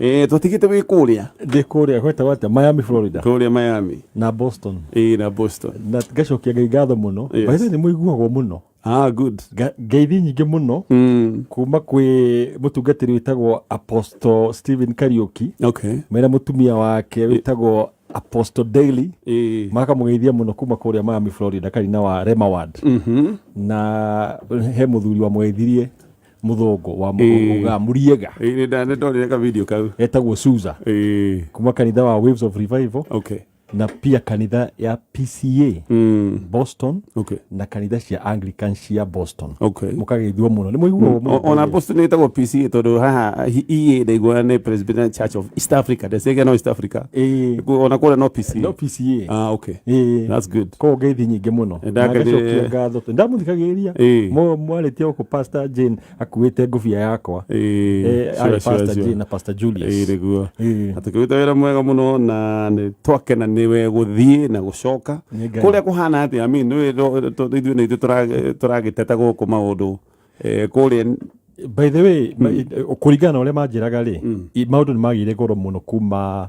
Eh, tũtigĩte wĩ kũrĩa ndĩ kũrĩa gwetagwo atĩa miami florida kũrĩa miami na boston ĩ na boston na ngacokia ngai ngatho mũno Yes. yes. nĩ mũiguagwo mũno ah good Nga- ngeithi nyingĩ mũno mm. kuma kwĩ mũtungatĩri wĩtagwo apostle stephen kariuki okay mena mũtumia wake wĩtagwo apostle daily ĩ makamũgeithia mũno kuma kũrĩa miami florida karina wa rema ward mm -hmm. na he mũthuri wamũgeithirie muthongo wa Ĩĩ. muga muriega Ĩĩ, nĩ ndonire ka video kau etagwo Suza Ĩĩ, kuma kanitha wa Waves of Revival okay na pia kanitha ya PCA Mm, Boston okay na kanitha cia Anglican cia Boston okay mukageithua muno ni muiguo O- ona boston ĩtagwo pca tondå haha hi- iä ndaigua nä presbyterian church of east africa ndecege no east africa Ĩĩ. Ku- ona kå no pca no PCA Ah, okay. Ĩĩ. That's good. koguo ngeithi nyingĩ mũno Nĩ Na ndangari- ngacokia ngatho tondũ ndamuthikagĩrĩria Ĩĩ. Mũ- mwarĩtie gũkũ pastor jane akuĩte ngũbia yakwa Ĩĩ, Eh, sure, arĩ sure, pastor sure. jane na pastor julius Ĩĩ, nĩguo Ĩĩ. atukĩrute wĩra mwega mũno na nĩ twakena nĩwe gũthiĩ na gũcoka Nĩ Ngai. kũrĩa kũhana atia ami nĩ ro- to- ithuĩ nĩ ithuĩ tũra- tũragĩteta gũkũ maũndũ Eh, kũrĩa by the way mm. kũringana na ũrĩa manjĩraga rĩ mm. maũndũ nĩ magĩire goro mũno kuma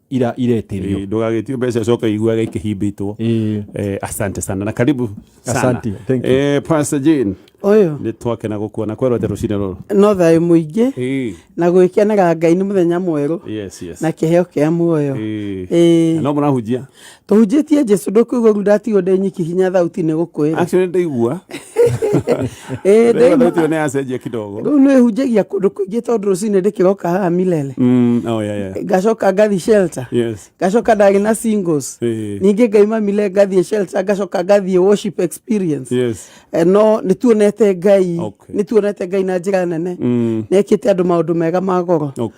ira ireterio Eh, ndũgagĩtio mbeca coka iguaga ikĩhimbĩtwo Eh, Eh, asante sana na karibu sana. Asante, thank you. Eh, Pastor Jane Ũyũ nĩ twakena gũkuona kwerwo atĩ rũcinĩ rũrũ no thayũ mũingĩ Eh, na gwĩkenera Ngai nĩ mũthenya mwerũ yes, yes. na kĩheo kĩa muoyo. Eh, Ĩĩ. no mũrahunjia tũhunjĩtie jesu ndũkũigua ru ndatigwo ndĩ nyiki hinya thauti nĩ gũkwĩra actually ndaigua Ĩĩ, ndaigua ndaigua. thauti ĩyo nĩ yacenjia kidogo rĩu nĩ hunjagia kũndũ kũingĩ tondũ rũcinĩ ndĩkĩroka haha milele Mm, oh, yeah, yeah. ngacoka ngathi shelter yes ngacoka ndagĩ na singles Eh. ningĩ ngaima mile ngathiĩ shelter ngacoka ngathiĩ worship experience yes Eh, no nĩ tuonete ngai Okay. nĩ tuonete ngai na njĩra nene Mm. nĩ ekĩte andũ maũndũ mega ma goro okay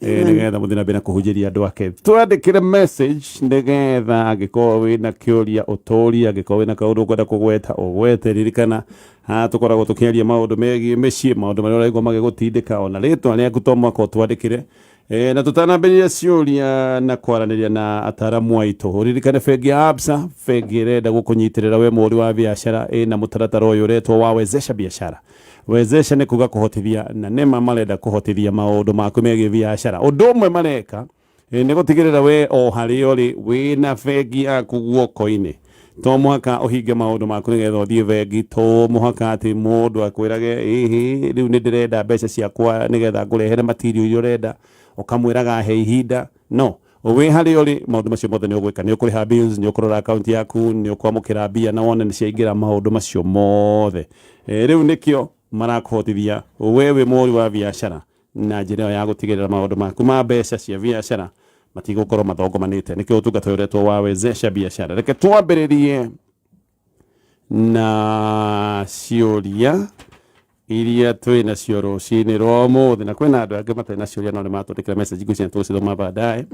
Eh, nĩgetha mũthina mbere na kũhunjĩria andũ ake twandĩkĩre message nĩgetha angĩkorwo wĩna kĩũria ũtũria angĩkorwo wĩna kaũndũ ũkwenda kũgweta ũgwete ririkana ah, tũkoragwo tũkĩaria maũndũ megiĩ mĩciĩ maũndũ marĩa ũraigua magĩgũtindĩka ona rĩtwa rĩaku to mwaka ũtwandĩkĩre Eh, na tũtanambĩrĩria ciũria na kwaranĩria na ataaramu aitũ ririkane bengi ya absa bengi ĩrenda gũkũnyitĩrĩra we mũhũri wa biacara ĩna mũtaratara ũyũ ũretwo wawezesha biashara Wezesha nĩ kuuga kũhotithia, na nĩ ma marenda kũhotithia maũndũ maku megiĩ biacara. Ũndũ ũmwe mareka eh, nĩ gũtigĩrĩra we o harĩa ũrĩ wĩ na bengi yaku guoko-inĩ. To mũhaka ũhinge maũndũ maku nĩgetha ũthiĩ bengi, to mũhaka atĩ mũndũ akwĩrage ĩhĩ rĩu nĩ ndĩrenda mbeca ciakwa nĩgetha ngũrehere material iria ũrenda, ũkamwĩraga he ihinda. No, wĩ harĩa ũrĩ maũndũ macio mothe nĩ ũgwĩka nĩ ũkũrĩha bills nĩ ũkũrora akaunti yaku nĩ ũkwamũkĩra mbia na wone nĩ ciaingĩra maũndũ macio mothe e, rĩu nĩkĩo marakũhotithia we wĩ mũhũri wa biacara na njĩra ĩyo ya gũtigĩrĩra maũndũ maku ma mbeca cia biacara matigũkorwo mathongomanĩte nĩkĩo ũtungata ũyũ ũretwo wa wezesha biacara reke twambĩrĩrie na ciũria iria twĩ nacio rũcinĩ rwa ũmũthĩ na kwĩna andũ angĩ matarĩ na ciũria no nĩ matũndĩkĩra message ngwĩciria tũgũcithoma baadaye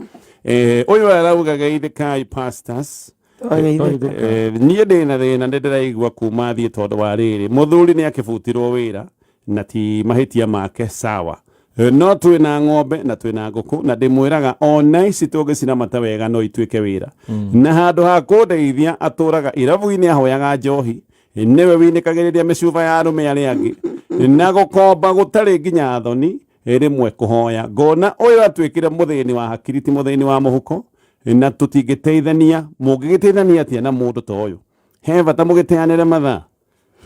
Eh, ũyũ arauga geithĩkai pastors Twageithĩka. Eh, niĩ ndĩ na thĩna nĩ ndĩraigua kuma thiĩ tondũ wa rĩrĩ mũthuri nĩ akĩbutirwo wĩra na ti mahĩtia make sawa Eh, no twĩ na ng'ombe na twĩ na ngũkũ na ndĩmwĩraga ona ici tũngĩciramata wega no ituĩke wĩra na handũ ha kũndeithia atũraga irabu-inĩ ahoyaga njohi Eh, nĩwe winĩkagĩrĩria mĩcuba ya arũme arĩa angĩ Eh, na gũkomba gũtarĩ nginya thoni Eh, rĩmwe kũhoya ngona ũyũ atuĩkire mũthĩni wa hakiri ti mũthĩni wa mũhuko Eh, na tũtingĩteithania mũngĩgĩteithania atĩa na mũndũ ta ũyũ he bata mũgĩteanĩre mathaa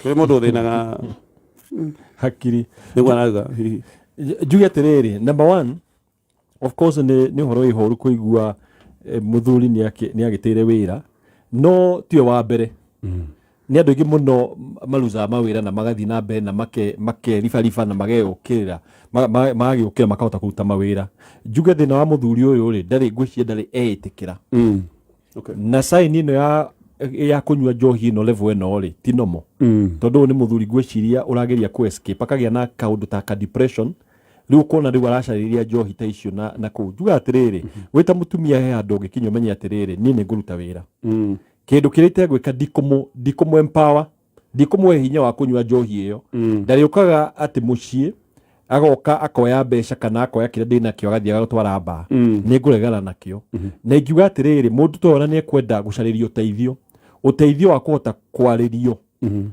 Kĩrĩ mũndũ ũthĩnaga hakiri nĩguo arauga hihi. Nj- njuge atĩrĩrĩ number one of course nĩ nĩ ũhoro wĩhoru kũigua eh, mũthuri nĩ akĩ- nĩ agĩtĩire wĩra no tiwe wa mbere nĩ andũ aingĩ mũno m- marucaga mawĩra na magathiĩ na mbere na make- makeribariba na mageyũkĩrĩra ma- ma- magagĩũkĩra makahota kũruta mawĩra njuge thĩna wa mũthuri ũyũ rĩ ndarĩ ngwĩciria ndarĩ eĩtĩkĩra Mm. okay. na saini ino ya ya kunyua njohi ino level ino ri ti nomo mm. tondu ni muthuri ngwiciria urageria ku escape akagia na kaundu ta ka depression riu ukona riu aracariria njohi ta icio na na ku juga atiriri mm-hmm. wita mutumia he andu ngikinya umenye atiriri ni ni nguruta wira mm. kindu kirite gwika ndikumu ndikumu empower ndikũmũhe hinya wa kũnyua njohi ĩyo mm. ndarĩũkaga atĩ mũciĩ agoka akoya mbeca kana akoya kĩrĩa ndĩ nakĩo agathiĩ agatwara mbaa mm. nĩ ngũregana nakĩo mm-hmm. na ingiuga atĩrĩrĩ mũndũ ta ona nĩ ekwenda gũcarĩria ũteithio ũteithio wa kũhota kwarĩrio mm-hmm.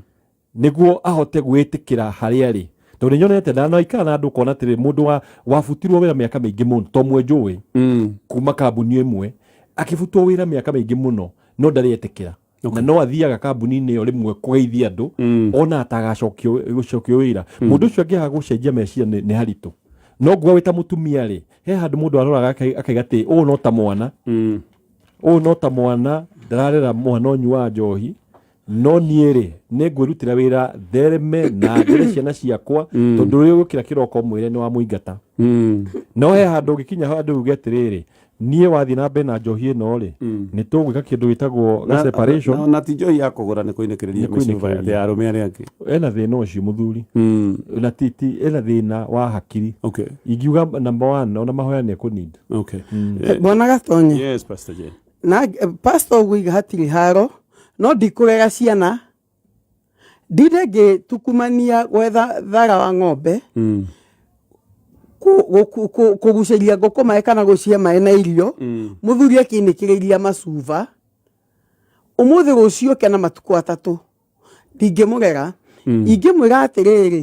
nĩguo ahote gwĩtĩkĩra harĩa arĩ tondå nä nyonete na no ikara na andå kona atä rä må ndå wabutirwo wä ra mä aka mä ingä må no to mwe njå ä mm. kuma kambuni ä mwe akä butwo wä ra mä aka mä ingä må no no ndarä etä kä ra na no athiaga kambuni-inĩ ĩyo rĩmwe kũgeithia andũ Mm. ona atagacokio gũcokio wĩra mũndũ ũcio angĩaga gũcenjia meciria nĩ nĩ haritũ no nguga wĩ ta mũtumia rĩ he handũ mũndũ aroraga akai- akaiga atĩ ũũ no ta mwana Mm. ũũ no ta mwana ndararera mwana ũnyu wa njohi no niĩ rĩ nĩ ngwĩrutĩra wĩra thereme na njĩre ciana ciakwa tondũ ũrĩa ũgũkĩra kĩroko mwĩre nĩ wa mũingata Mm. no he handå å gä kinya handå uge atä rä rä niĩ wathiĩ na mbere na njohi ĩno rĩ nĩ tũgwĩka kĩndũ gĩtagwo Na- separation na- na ti njohi ya kũgũra nĩ kũinĩkĩrĩria Nĩ mĩcuba kũinĩkĩrĩria. ya arũme arĩa angĩ ena thĩna ũcio mũthuri Mm, na ti ti ena thĩna wa hakiri okay, ingiuga namba one ona mahoya nĩ ekũninda okay. Eh, bwana gatonye yes pastor Jane. na eh, pastor ũgũiga hatirĩ haro no ndikũrega ciana Ndire ngĩtukumania gwetha thara wa ng'ombe mm. kũgucĩria ngũkũ maĩ kana gũcihe maĩ na irio mm. mũthuri akĩnĩkĩrĩria macuba ũmũthĩ rũciũ kena matukũ atatũ ndingĩmũrera mm. ingĩmwĩra atĩrĩrĩ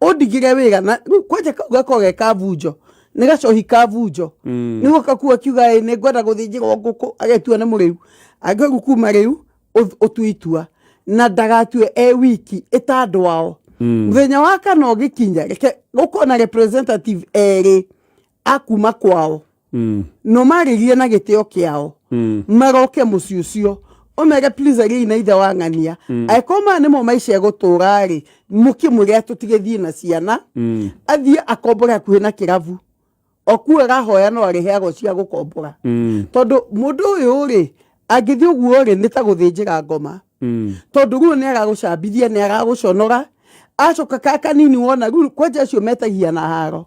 ũndigĩre wĩra na rĩu kwanja kau gakorwo ge kabunjo nĩ gacohi kabunjo Mm. nĩguo kakuo akiuga ĩ nĩ ngwenda gũthĩnjĩrwo ngũkũ agetua nĩ mũrĩu angĩru kuma rĩu ũth- ũtue itua na ndagatue e wiki ĩta andũ ao Mm. mũthenya wa kana ũgĩkinya reke gũkorwo na representative erĩ akuma kwao mm. no marĩrie na gĩtĩo kĩao mm. maroke mũciĩ ũcio omega please agei na ithe wa ng'ania mm. angĩkorwo maya nĩmo maica gũtũra-rĩ mũkĩmwĩre tũtigĩthiĩ na ciana mm. athiĩ akombore hakuhĩ na kĩrabu okuo arahoya no arĩheagwo cia gũkombora mm. tondũ mũndũ ũyũ-rĩ angĩthiĩ ũguo-rĩ nĩ ta gũthĩnjĩra ngoma mm. tondũ rĩu nĩ aragũcambithia nĩ aragũconora acoka ka kanini wona rĩu kwanja acio metagia na haro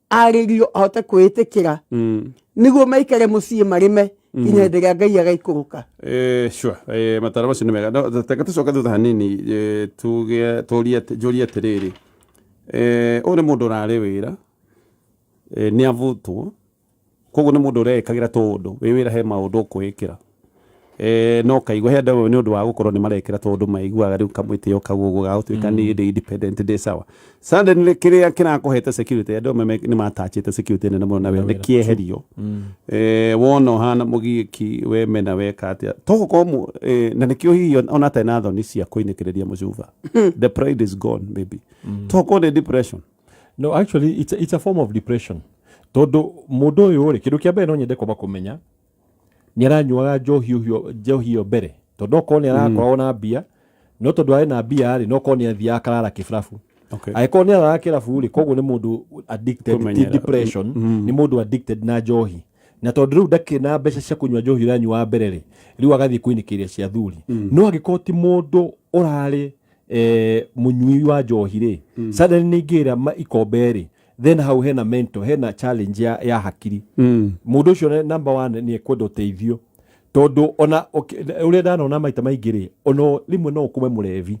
arĩrio ahote kwĩĩtĩkĩra mm. nĩguo maikare mũciĩ marĩme mm. nginya hĩndĩ ĩrĩa ngai agaikũrũka eh, sure eh, matara macio nĩ mega teka tũcoke thutha hanini eh, njũrie atĩrĩrĩ ũyũ nĩ mũndũ ũrarĩ wĩra nĩ avutwo Koguo nĩ mũndũ ũreĩkagĩra tũũndũ, wĩ wĩra he maũndũ ũkũĩkĩra. Eeh no ũkaigua he andũ amwe nĩ ũndũ wa gũkorwo nĩ marekĩra tũũndũ maiguaga rĩu kamwĩtĩo kau ũguo ga gũtuĩka niĩ ndĩ independent ndĩ sawa. Suddenly kĩrĩa kĩrakũhete security, andũ amwe nĩ ma attach ĩte security nene mũno nawe nĩ kĩeherio. Eeh wona ũhana mũgiĩki, we mena weka atĩa. To gũkorwo mũ, eeh na nĩkĩo hihi ona atarĩ na thoni cia kũinĩkĩrĩria mũcuba. The pride is gone maybe. To gũkorwo nĩ depression. no actually it's a, it's a form of depression tondu mundu uyu ri kindu kia mbere no nyende kwamba kumenya ni aranyuaga njohi ucio njohi iyo mbere tondu okorwo ni arakoragwo na mbia no tondu ari na mbia ri no korwo ni athiaga akarara kiburabu Okay. angĩkorwo nĩ araga kĩrabu rĩ koguo nĩ mũndũ addicted ti Kũmenyera. depression nĩ mũndũ addicted na njohi na tondũ rĩu ndakĩrĩ na mbeca cia kũnyua njohi ũranyua wa mbere rĩ rĩu agathiĩ kwĩnĩkĩria cia thuri no angĩkorwo ti mũndũ ũrarĩ eh, mũnyui wa njohi rĩ mm. suddenly nĩ ingĩra ma- ikombe rĩ then hau hena mental hena challenge ya, ya hakiri Mm. mũndũ ũcio ne- number one nĩ ekwenda ũteithio tondũ ona ũki- ũrĩa ndanona maita maingĩ rĩ ona rĩmwe no ũkũme mũrevi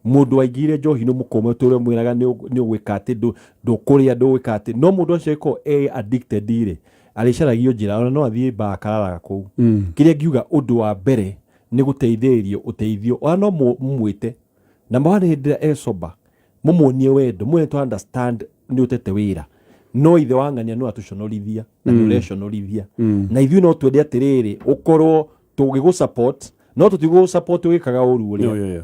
mũndũ waingĩire njohi nĩ mũkũme tũrĩa mwĩraga nĩ ũ- nĩ ũgwĩka atĩ ndũ- ndũkũrĩa ndũgwĩka atĩ no mũndũ ũcio ĩkorwo e addicted rĩ arĩcaragio njĩra ona no athiĩ baa akararaga kũu Mm. kĩrĩa ngiuga ũndũ wa mbere nĩ gũteithĩrĩrio ũteithio ona no mũmwĩte na mwana hĩndĩ ĩrĩa e sober mũmuonie wendo mwene to understand nĩ ũtete wĩra no ithe wa ng'ania no atũconorithia na nĩ ũreconorithia na ithuĩ no twende atĩrĩrĩ ũkorwo tũgĩgũ support no tũtigũ support ũgĩkaga ũru Yo, ũrĩa yo, yo.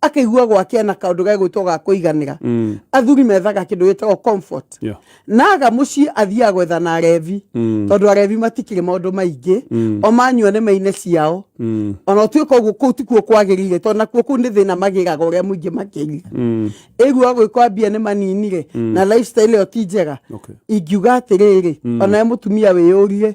akaigua gwake ena kaundu ga gwitwo ga kuiganira mm. athuri methaga kindu gitagwo comfort yeah. naga mucii athiaga gwetha na arevi mm. tondu arevi matikiri maundu maingi mm. o manyua ni maine ciao mm. ona utuika uguo kuu tikuo kwagirire tondu nakuo kuu ni thina magiraga uria muingi makiri mm. igua gwikwambia ni manini ri mm. na lifestyle iyo ti njega okay. ingiuga atiriri mm. ona mutumia wiyurie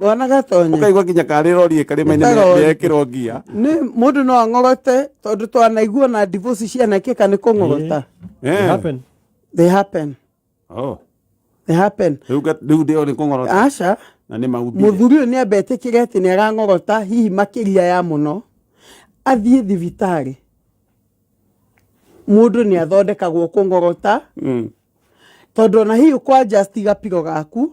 wana gatonye ũkaigua nginya karĩ rori karĩma-inĩ Nĩ karori. nĩekĩrwo ngia nĩ mũndũ no ang'orote tondũ twanaigua na divosi cianekĩka nĩ kũng'orota It Eh. happened. they happen Oh. they happen Rĩu nga- rĩu ndĩo nĩ kũng'orota aca na nĩ maumbire mũthuri ũyũ nĩ ambetĩkĩre atĩ nĩ arang'orota hihi makĩria ya mũno athiĩ thibitarĩ mũndũ nĩ athondekagwo kũng'orota Mm. tondũ ona hihi kwa just gapiro gaku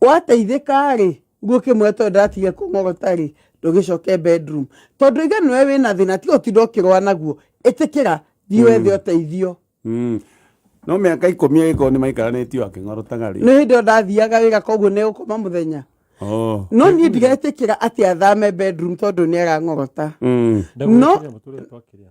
wateithĩka-rĩ gũkĩ mwĩre tondũ ndĩratigire kũng'ogota-rĩ ndũgĩcoke bedroom tondũ ithe nĩwe wĩna thĩna tiga ũtinda ũkĩrũa naguo ĩtĩkĩra thiĩ wethe ũteithio Mm. no mä aka ikå mi agä nä maikaranätio akä ng'orotaga rä nĩ hĩndĩ ĩyo ndathiaga wĩra koguo nĩ gũkoma mũthenya Oh. no niĩ ndiretĩkĩra atĩ athame bedroom tondũ nĩ arang'ogota Mm. No- Ndagũgĩkĩria mũtũrĩre twakĩrĩa.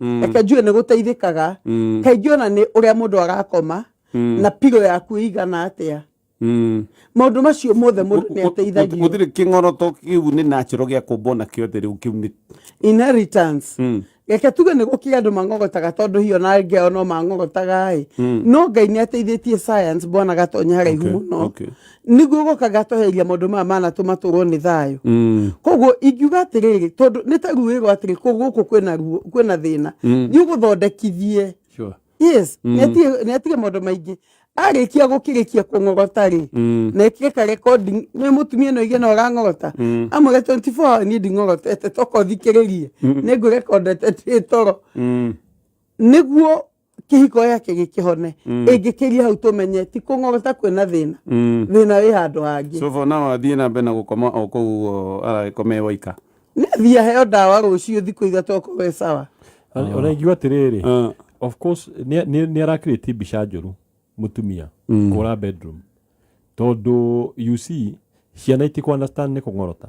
Mm. reke njuge nĩ gũteithĩkaga Mm. kaingĩ ona nĩ ũrĩa mũndũ arakoma Mm. na piro yaku ĩigana atĩa Mm. maũndũ macio mothe mũndũ nĩ ateithagio gũtirĩ kĩng'oroto kĩu nĩ natural gĩa kũmbwo na kĩothe rĩu kĩu nĩ inheritance Mm. reke tuge nĩ gũkĩrĩ andũ mang'ogotaga tondũ hiyo na angĩ ao no mang'ogotaga ĩ Mm. no ngai nĩ ateithĩtie science bwana gatonya haraihu Okay, mũno okay. nĩguo gũkaga tweheria maũndũ maya manatũma tũrwo nĩ thayũ Mm. koguo ingiuga atĩrĩrĩ tondũ nĩ ta ruo ĩrwo atĩrĩ kũ gũkũ kwĩna ruo kwĩna thĩna Mm. nĩ ũgũthondekithie Sure. yes Mm. nĩatige nĩatige maũndũ maingĩ arĩkia gũkĩrĩkia kũng'ogota rĩ Mm. na ĩkire ka recording nĩ mũtumia no igena ũrang'ogota Mm. amwĩre 24 hour niĩ nding'ogotete toka ũthikĩrĩrie Mm. nĩ ngũrekondete twĩ toro Mm. nĩguo kĩhiko gĩake gĩkĩhone Mm. ĩngĩkĩria hau tũmenye ti kũng'ogota kwĩna thĩna Mm. thĩna wĩ handũ hangĩ so for now athiĩ na mbere na gũkoma o kũu ũguo aragĩkome waika nĩ athiĩ aheo ndawa rũciũ thikũ ithatũ okorwo we sawa ũrengiu atĩrĩrĩ Ah, of course nĩ- nĩ nĩ arakirĩtie mbica njũru mũtumia Mm. kũra bedroom tondũ you see ciana itikũ understand nĩ kũng'orota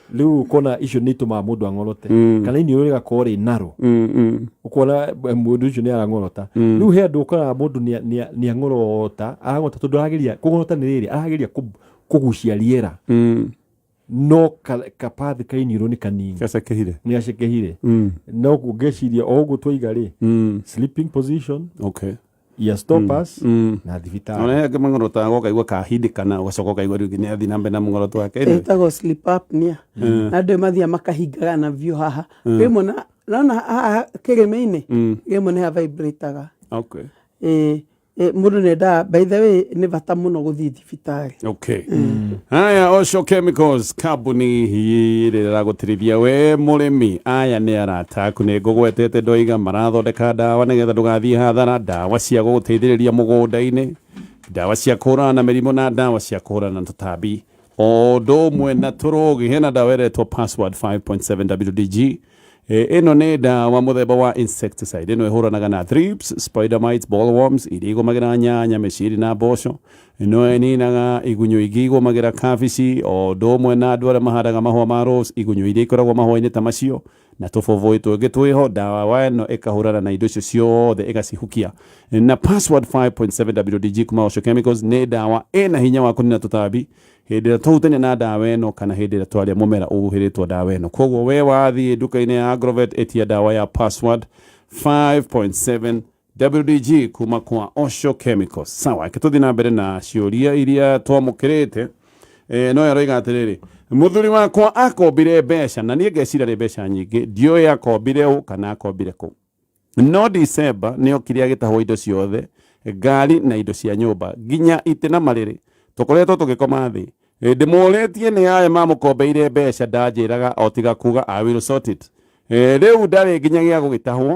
rĩu ũkona icio nĩ itũmaga mũndũ ang'orote mm. kana iniũrũ rĩgakorwo rĩ naro mm, mm. ũkona eh, mũndũ ũcio nĩ arang'orota rĩu he andũ ũkoraga mũndũ nĩ ang'orota arang'orota tondũ arageria kũng'orota nĩ rĩrĩ arageria kũgucia rĩera no kabathi ka iniũrũ nĩ kanini gacekehire nĩ gacekehire no ngeciria o ũguo twaiga rĩ sleeping position okay ya stoppers Mm. na thibitarĩ Ona yake mangoro ta gokaigwa kahindikana ugacoka ukaigwa riu nginya athi nambe na mangoro twake Anyway. ĩtagwo sleep apnea na andũ mathiaga makahingaga na biũ haha rĩmwe na- nona haha kĩrĩma-inĩ Mm. rĩmwe nĩ havibrataga Okay. Ĩ- ĩ, mũndũ nendaga by the way nĩ bata mũno gũthiĩ thibitarĩ okay haya oco chemicals kambuni ĩrĩa ĩragũtirithia we mũrĩmi aya nĩ arata aku nĩ ngũgwetete ndoiga marathondeka ndawa nĩgetha ndũgathiĩ hathara ndawa cia gũgũteithĩrĩria mũgũnda-inĩ ndawa cia kũhũrana na mĩrimũ na ndawa cia kũhũrana na tũtambi o ũndũ ũmwe na tũrũgi hena ndawa ĩretwo password 5.7 wdg Eh, ĩno nĩ ndawa mũthemba wa insecticide ĩno ĩhũranaga na thrips spider mites bollworms iria igũmagĩra nyanya mĩciri na mboco ĩno ĩninaga igunyũ ingĩ igũmagĩra kabici o ũndũ ũmwe na andũ arĩa mahandaga mahũa ma rose igunyũ iria ikoragwo mahũa-inĩ ta macio na tũbũbũĩ tũngĩ twĩho ndawa wa ĩno ĩkahũrana na indo icio ciothe ĩgacihukia na password 5.7 wdg kuma Osho Chemicals nĩ ndawa ĩna hinya wa kũnina tũtambi hĩndĩ ĩrĩa twahutania na ndawa ĩno kana hĩndĩ ĩrĩa twarĩa mũmera ũhuhĩrĩtwo ndawa ĩno koguo we wathiĩ nduka-inĩ ya agrovet ĩtia ndawa ya password 5.7 wdg kuma kwa osho chemical sawa reke tũthiĩ na mbere na ciũria iria twamũkĩrĩte Eh, no aroiga atĩrĩrĩ mũthuri wakwa akombire mbeca na niĩ ngecira nĩ mbeca nyingĩ ndiũĩ akombire ũ kana akombire kũ No Dicemba nĩ okire agĩtahwo indo ciothe, ngari na indo cia nyũmba, nginya itĩ na marĩrĩ. Tũkoretwo tũgĩkoma thĩ. Ndĩmũũrĩtie nĩ arĩ mamũkombeire mbeca ndanjĩraga o tiga kuuga I will sort it. Rĩu ndarĩ nginyagia gũgĩtahwo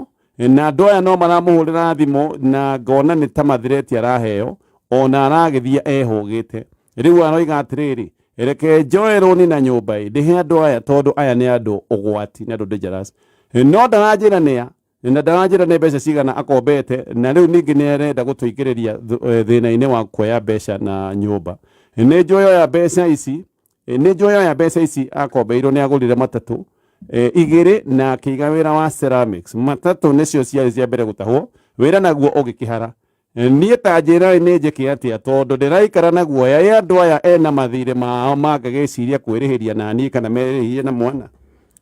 na andũ aya no maramũhũrĩra thimũ na ngona nĩ ta mathireti araheo, o na aragĩthiĩ ehũgĩte. Rĩu aroiga atĩrĩrĩ, reke njoe rũni na nyũmba ĩ ndĩhe andũ aya tondũ aya nĩ andũ ũgwati nĩ andũ dangerous no ndaranjĩra nĩa na ndaranjĩra nĩ mbeca cigana akombete na rĩu ningĩ nĩ arenda gũtũingĩrĩria eh, thĩna-inĩ wa kuoya mbeca na nyũmba nĩ njoe oya mbeca ici eh, nĩ njoe oya mbeca ici akombeirwo nĩ agũrire matatũ eh, igĩrĩ na akĩiga wĩra wa ceramics matatũ nĩcio ciarĩ cia mbere gũtahwo wĩra naguo ũgĩkĩhara niĩ ta njĩrai nĩ njĩke atĩa tondũ ndĩraikara na guoya ĩ andũ aya ena mathirĩ mao mangagĩciria kwĩrĩhĩria na niĩ kana merĩhĩrie na mwana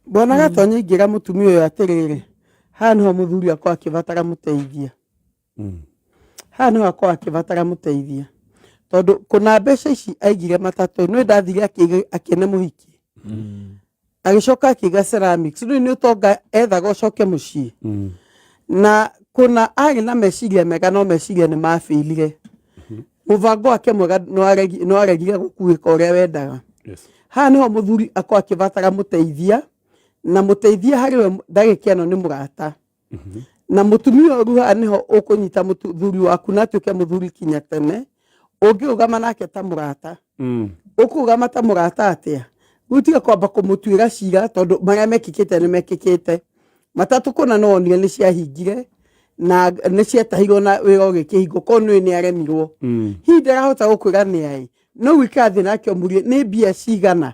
Bwana Gatonyi ingĩra mũtumia ũyũ atĩrĩrĩ, haha nĩho mũthuri wakwa akĩbatara mũteithia, haha nĩho akwa akĩbatara mũteithia tondũ kũna mbeca ici aigire matatũ nĩ ndathire akĩne mũhiki agĩcoka akĩiga ceramics rĩu nĩ ũtonga ethaga ũcoke mũciĩ Mm. na kuna arĩ na meciria mega no meciria nĩ mabĩirire mũbango wake mwega nĩ waregi- nĩ waregire gũkuĩka ũrĩa wendaga Yes. haha nĩho mũthuri akorwo akĩbatara mũteithia na mũteithia harĩ we ndagĩka ĩno nĩ mũrata na mutumia ũyũ ruha nĩho ũkũnyita mũthuri waku na atuĩke mũthuri kinya tene ũngĩũgama nake ta mũrata Mm. ũkũgama ta mũrata atĩa rĩu tiga kwamba kũmũtuĩra cira tondũ marĩa mekĩkĩte nĩ mekĩkĩte matatũ kũna no wonire nĩ ciahingire na nĩ ciatahirwo na wĩra ũgĩkĩhingwo korwo nĩũĩ nĩ aremirwo Mm. hihi ndarahota gũkwĩra nĩ aĩ no gwĩka thĩ nake mũrie nĩ mbia cigana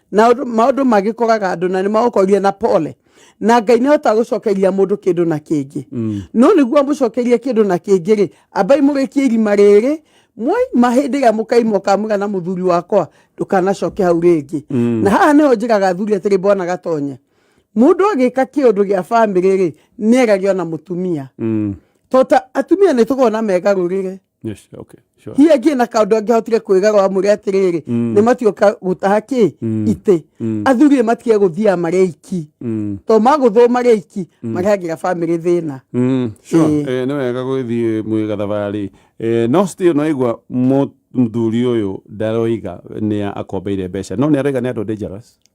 na ũndũ- maũndũ magĩkoraga andũ na nĩ magũkorire na pole na ngai nĩ ahotaga gũcokeria mũndũ kĩndũ na kĩngĩ no nĩguo amũcokerie kĩndũ na kĩngĩ rĩ ambai mũrĩkie irima rĩrĩ mwaima hĩndĩ ĩrĩa mũkaima ũkamwĩra na mũthuri wakwa ndũkanacoke hau rĩngĩ na haha nĩho njĩraga athuri atĩrĩ bwana gatonye mũndũ agĩka kĩũndũ gĩa bamĩrĩ rĩ nĩ erage ona mũtumia Mm. tota atumia nĩ tũgona megarũrĩre Yes, okay, sure. hihi angĩ na kaũndũ angĩhotire kwĩgarwo amwĩre atĩrĩrĩ Mm. nĩ matioka gũtaha kĩ Mm. itĩ Mm. athuri nĩ matige gũthiaga marĩ aiki Mm. to magũthwo marĩ aiki marehagĩra bamĩrĩ thĩna Mm, sure. Ĩĩ. Eh, nĩ wega gwĩthiĩ mwĩ gathabarĩ Eh, no still no igua mũthuri ũyũ ndaroiga nĩ akombeire mbeca no nĩ aroiga nĩ andũ dangerous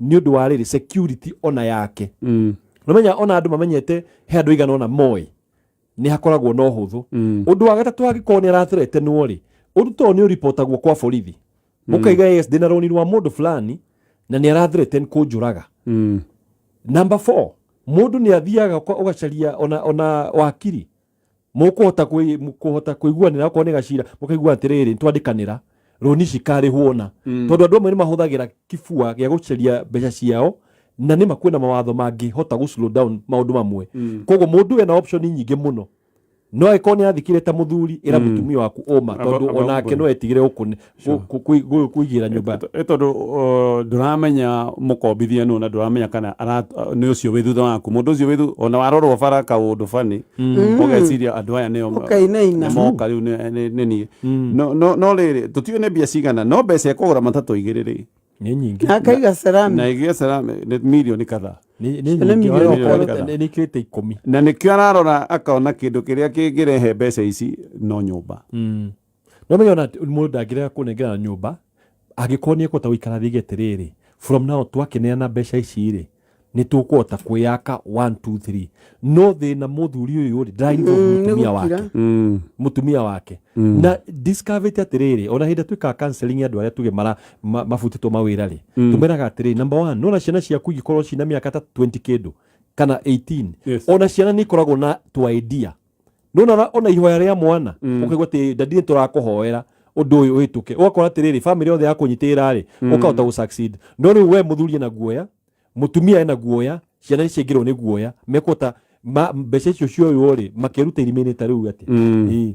nĩ ũndũ wa rĩrĩ security ona yake mm. nomenya ona andũ mamenyete he andũ igana ona moĩ nĩ hakoragwo na ũhũthũ mm. ũndũ wa gatatũ angĩkorwo nĩ arateretenwo rĩ ũndũ too nĩ ũripotagwo kwa borithi mm. mũkaiga yes ndĩna rũni rwa mũndũ fulani na nĩ arathireten kũnjũraga mm. number four mũndũ nĩ athiaga ũgacaria ona, ona wakiri mũkũhota kũi- mũkũhota kũiguanĩra okorwo nĩ gacira mũkaigua atĩrĩrĩ twandĩkanĩra rũni cikarĩhwo na Mm. tondũ andũ amwe nĩ mahũthagĩra kĩbua gĩa gũcaria mbeca ciao na nĩ makwĩna mawatho mangĩhota gũ slow down maũndũ mamwe Mm. koguo mũndũ ena option nyingĩ mũno no agĩkorwo nĩ athikire ta mũthuri ĩra Mm. mũtumia waku ũma Aba- tondũ aba onake mbũri. no etigĩre gũkũ kũigĩra nyũmba nĩ tondũ uh, ndũramenya mũkombithia nũ na ndũramenya kana uh, nĩ ũcio wĩ thutha waku mũndũ ũcio wĩ ona warorwo bara kaũndũ bani mm. ũgeciria andũ aya nĩmoka rĩu nĩ niĩ mm. no rĩrĩ tũtiũĩ nĩ mbia cigana no mbeca ĩkũgũra matatũ igĩrĩ rĩ nĩ nyingĩ na akaiga ceramic na igĩa ceramic nĩ milioni kadhaa nĩkĩte ikũmi na nĩkĩo ararora akona kĩndũ kĩrĩa kĩngĩrehe mbeca ici no nyũmba mm. No menye ona mũndũ ndangĩrega kũnengera nyũmba angĩkorwo nĩ ekũhota gũikara thige atĩrĩrĩ from now twakĩneana mbeca ici rĩ nĩ tũkũhota kwĩyaka 1 2 3 no thĩna mũthuri ũyũ rĩ ndaraigua Mm, nĩ mũtumia wake gũkira. Mm. mũtumia wake Mm. na discovered atĩrĩrĩ ona hĩndĩ twĩkaga counseling ya andũ arĩa tuge mara ma- mabutĩtwo mawĩra rĩ Mm. tumeraga atĩrĩrĩ number one nona ciana ciaku ingĩkorwo cina mĩaka ta 20 kĩndũ kana 18 Yes. ona ciana nĩ ikoragwo na tu idea nona ona ihoya rĩa mwana mm. ukaigua ati dadi ni turakuhoera undu uyu uhituke ugakora atiriri family yothe yakunyitirira ri mm. ukahota gu succeed no riu we muthuri na guoya mutumia ena guoya ciana nicingirwo ni guoya mekota mbeca icio cioywo ri makeruta irimini ta riu ati mm.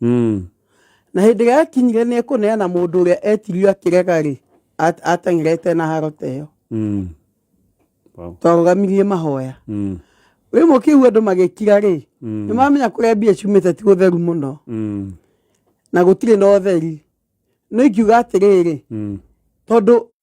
Mm. Na hĩndĩ ĩrĩa yakinyire nĩ ekũneana mũndũ ũrĩa etirio akĩrega-rĩ, at- ateng'erete na haro ta ĩyo Mm. Wow. twarũgamirie mahoya Mm. rĩu mũkĩigua andũ magĩkira-rĩ Mm. nĩ mamenya kũrĩa mbia ciumĩte ti gũtheru mũno Mm. na gũtirĩ na ũtheri no ingiuga atĩrĩrĩ Mm. tondũ